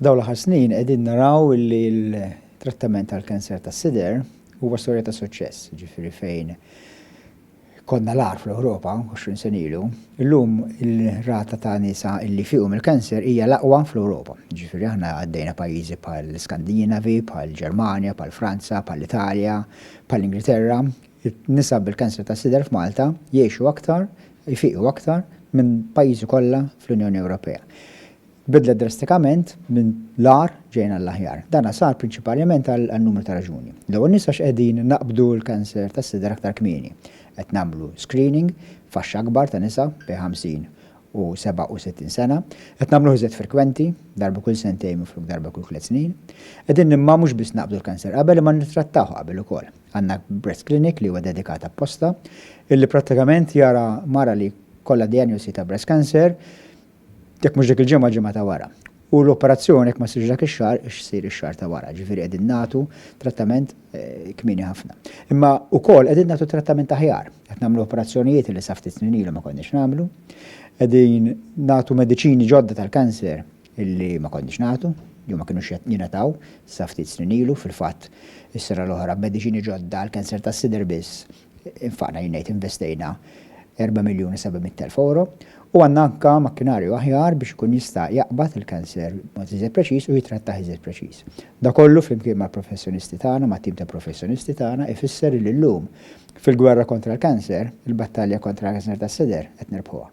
F'dawn l-aħħar snin qegħdin naraw li l-trattament tal-kanser tas-sider huwa storja ta' suċċess, ġifieri fejn konna l-agħar fl-Ewropa 20 sen ilu, illum il-rata ta' nisa illi fiqu mill-kanser hija l-aqwa fl-Ewropa. Ġifieri aħna għaddejna pajjiżi bħal Skandinavi, bħal Ġermanja, bħal Franza, bħal Italja, bħal Ingilterra, nisa bil-kanser tas-sider f'Malta jgħixu aktar jfiqu aktar minn pajjiżi kollha fl-Unjoni Ewropea. Bidlet drastikament minn l-agħar ġejjin għall-aħjar. Dan sar prinċipaliment għal numru ta' raġuni. L-ewwel nies għax qegħdin naqbdu l-kanser tas-sider aktar kmieni. Qed nagħmlu screening f'għaxx akbar ta' nisa bejn 50 u 67 sena. Qed nagħmluh iżjed frekwenti, darba kull sentejn minflok darba kull tliet snin. Qegħdin imma mhux biss naqbdu l-kanser qabel imma nittrattawh qabel ukoll. Għandna breast clinic li huwa dedikat apposta, illi prattikament jara mara li jkollha dijanjosi ta' breast cancer, jekk mhux dik il-ġimgħa, ġimgħa ta' wara. U l-operazzjoni jekk ma ssirx dak ix-xahar, issir ix-xahar ta' wara. Ġifieri qegħdin nagħtu trattament kmieni ħafna. Imma wkoll qegħdin nagħtu trattament aħjar. Qed nagħmlu operazzjonijiet illi sa ftit snin ilu ma konniex nagħmlu. Qegħdin nagħtu mediċini ġodda tal-cancer. illi ma konniex nagħtu, jew ma kinux jingħataw sa ftit snin ilu. Fil-fatt, is-sena l-oħra b'mediċini ġodda għall-cancer tas-sider biss infaqna, jien ngħid investejna, erba' miljun u seba' mitt elf ewro. U għandna anke makkinarju aħjar biex ikun jista' jaqbad il-cancer b'mod iżjed preċiż u jittrattah iżjed preċiż. Dan kollu flimkien mal-professjonisti tagħna, mat-tim ta' professjonisti tagħna, ifisser illi llum, fil-gwerra kontra l-cancer, il-battalja kontra l-cancer tas-sider qed nirbħuha.